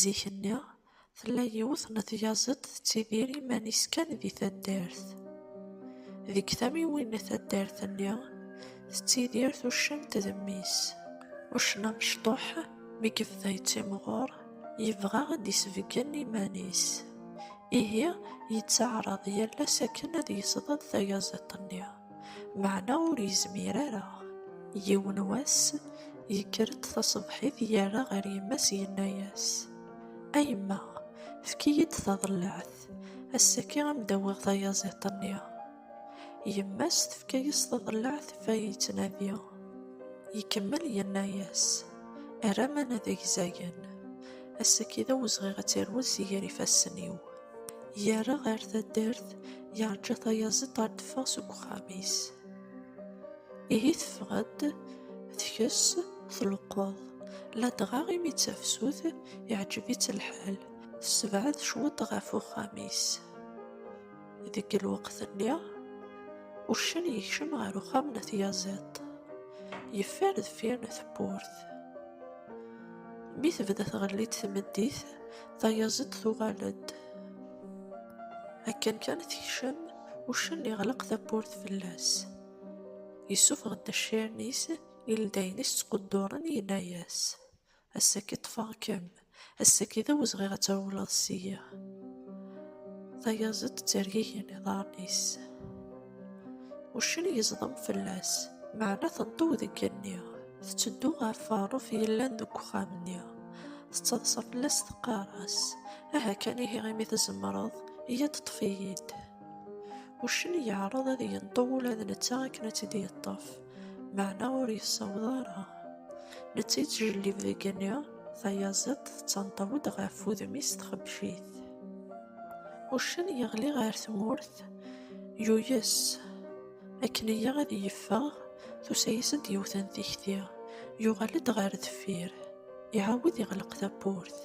Zik-nni, tella yiwet n tyaziḍt tettidir iman-is kan di taddart. Deg tamiwin n taddart-nni, tettidir tuccimt d mmi-s. Uccen amecṭuḥ, mi yebda yettimɣur, yebɣa ad d-isbeggen iman-is. Ihi, yettaɛraḍ yal ass akken ad yesḍed tayaziḍt-nni. Meɛna ur yezmir ara. Yiwen wass, yekker-d taṣebḥit yerra ɣer yemma-s yenna-yas, A yemma, efk-iyi-d taḍellaɛt, ass-agi a m-d-awiɣ tayaẓiḍt-nni. Yemma-s tefka-yas taḍellaɛt ɣef ay yettnadi. Ikemmel yenna-yas, Err aman ad ak-zayen. Ass-agi d awezɣi ad terwel si gar ifassen-iw. Yerra ɣer taddart, yeṛǧa tayaziḍt ad d-teffeɣ seg uxxam-is. Ihi teffeɣ-d, tkess, tleqqeḍ. Ladɣa imi d tafsut, iɛǧeb-itt lḥal, tessebɛed cwiṭ ɣef uxxam-is. Deg lweqt-nni, uccen yekcem ɣer uxxam n tyaziḍt. Yeffer deffir n tewwurt. Mi tebda tɣelli-d tmeddit, Tayaziḍt tuɣal-d. Akken kan tekcem, uccen iɣleq tawwurt fell-as. Yessufeɣ-d accaren-is, ildayen-is ttqudduren, yenna-yas, Ass-agi ṭṭfeɣ-kem, ass-agi d awezɣiɣ ad trewleḍ ssya. Tayaziḍt ttergigen iḍarren-is. Uccen yeẓdem fell-as, meɛna teṭṭew deg igenni. Tetteddu ɣer Faṛuf yellan deg uxxam-nni. Tettaḍsa fell-as teqqar-as, Aha kan ihi imi tzemreḍ, iyya ṭṭef-iyi-d. Uccen yeɛreḍ ad yenṭew ula d netta akken ad tt-id-yeṭṭef, meɛna ur yessaweḍ ara. Netta yettjellib deg igenni, tayaziḍt tettanṭaw-d ɣef wudem-is txebcit. Uccen yeɣli ɣer tmurt. Yuyes. Akken iya ad yeffeɣ, tusa-yasent yiwet n tikti. Yuɣal-d ɣer deffir. Iɛawed iɣleq tawwurt.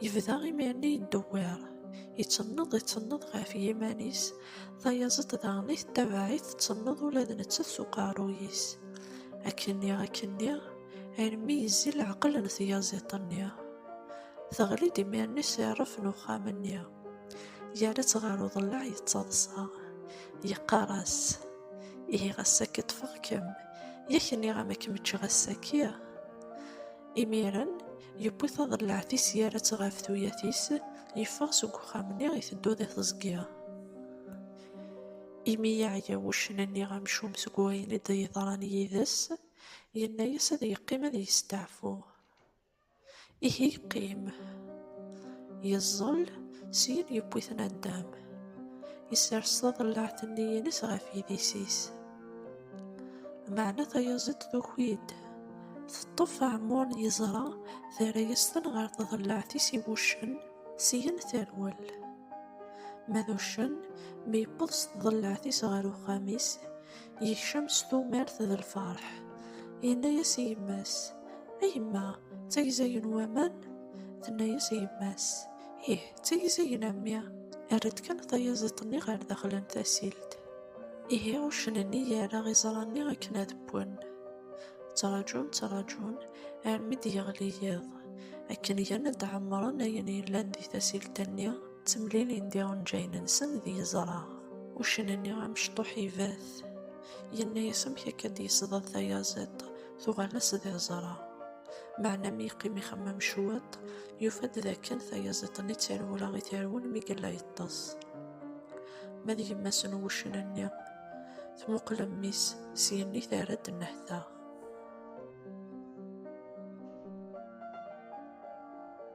Yebda imir-nni yeddewwir. Ittenneḍ ittenneḍ ɣef yiman-is, tayaẓeḍt daɣen i tettabaɛ-it tettenneḍ ula d nettat s uqerruy-is. Akken-nni akken-nni, armi yezzi leɛqel n tyaziḍt-nni. Teɣli-d imir-nni s rref n uxxam-nni. yerra-tt ɣer uḍellaɛ yettaḍsa yeqqar-as ihi ɣas akka ṭṭfeɣ-kem yak nniɣ-am ad kem-ččeɣ ass-agi imiren yewwi taḍellaɛt-is yerra-tt ɣef tuyat-is yeffeɣ seg uxxam-nni iteddu di teẓgi imi yeɛya wuccen-nni amcum seg wayen i d-yeḍran yid-s yenna-as ad yeqqim ad yesteɛfu Ihi yeqqim, yeẓẓel, syin yewwi-ten addam. Isers taḍellaɛt-nni-ines ɣef yidis-is. Meɛna tayaziḍt tuki-d, teṭṭef aɛmur n yeẓra, terra-yasen ɣer tḍellaɛt-is i wuccen, syin terwel. Ma d uccen, mi yewweḍ s tḍellaɛt-is ɣer uxxam-is, Yekcem s tumert d lferḥ. Yenna-yas i yemma-s, A yemma, d tagza-agi n waman? Tenna-yas i yemma-s, Ih, d tagza-agi n mmi. Err-d kan tayaziḍt-nni ɣer daxel n tasilt. Ihi uccen-nni yerra iẓra-nni akken ad wwen. Ttrajun, ttrajun, armi d-yeɣli yiḍ. Akken gan ad ɛemmren ayen yellan di tasilt-nni, Ttemlilin di unǧayen-nsen d yeẓra. Uccen-nni amecṭuḥ ibat. Yenna-yas amek akka d-yesḍa tayaziḍt, tuɣal-as d iẓra. Meɛna mi yeqqim ixemmem cwiṭ, yufa-d d akken tayaziḍt-nni d tarewla i t-irwun mi yella yeṭṭes. Ma d yemma-s n wuccen-nni, tmuqel mmi-s, s yenni terra-d nnehta.